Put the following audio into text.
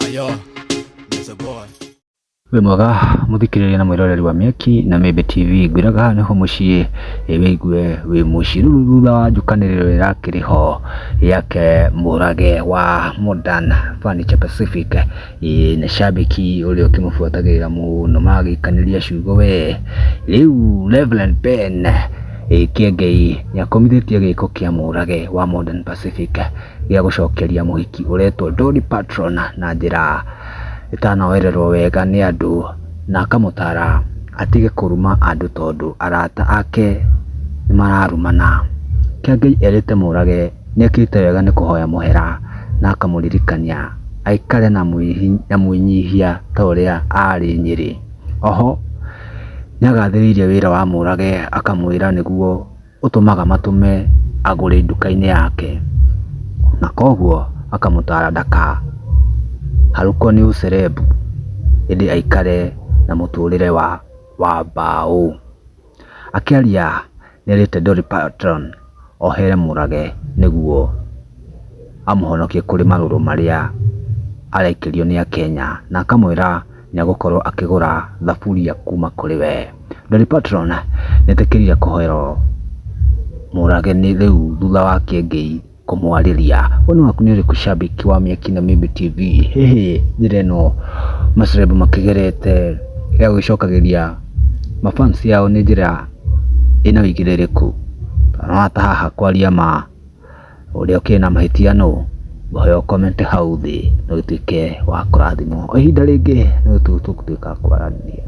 Ayo, Mr. Boy. wĩ mwega mũthikĩrĩria na mwĩroreri wa mĩaki na mĩmbe tv ngwĩraga haha nĩho mũciĩ ĩ wĩigue wĩ mũciruru thutha wa njũkanĩrĩro ĩrakĩrĩ ho yake mũrage wa modern furniture pacific ĩ na shabiki ũrĩa ũkĩmũbuatagĩrĩra mũno magĩikanĩria ciugo we rĩu reverend ben ĩ kĩengei nĩakomithĩtie gĩko kĩa mũrage wa modern pacific gĩa gũcokeria mũhiki ũretwo Dolly Patron na njĩra ĩtanoererwo wega nĩ andũ na akamũtara atige kũruma andũ tondũ arata ake nĩ mararumana. Kĩengei erĩte Mũrage nĩ ekĩte wega nĩ kũhoya mũhera na akamũririkania aikare na mwĩnyihia ta ũrĩa arĩ Nyĩrĩ. Oho nĩ agathĩrĩirie wĩra wa Mũrage akamwĩra nĩguo... ũtũmaga matũme agũre nduka-inĩ yake, na koguo akamũtara ndakaharũkwo nĩ ũcerebu, ĩndĩ aikare na mũtũrĩre wa wa mbaũ. Akĩaria nĩerĩte Dolly Parton ohere mũrage nĩguo amũhonokie kũrĩ marũrũ marĩa araikĩrio nĩ Akenya, na akamwĩra nĩagũkorwo akĩgũra thaburia kuma kũrĩ we. Dolly Parton nĩetĩkĩrire kũhoerwo mũrage nĩ rĩu thutha wa Kĩengei kũmwarĩria. Woni waku nĩ ũrĩkũ shabiki wa Mĩaki na Mĩmbi TV? Hihi njĩra ĩno maceleb makĩgerete ya gũgĩcokagĩria ma fans ao nĩ njĩra ĩna ũigĩrĩrĩku? Wata haha kwaria ma. Ũrĩa ũkĩrĩ na mahĩtia nũ? Ngũhoya ũkomente hau thĩ na ũtuĩke wa kũrathimwo. Kwa ihinda rĩngĩ nĩ tũgũtuĩka kwaranĩria.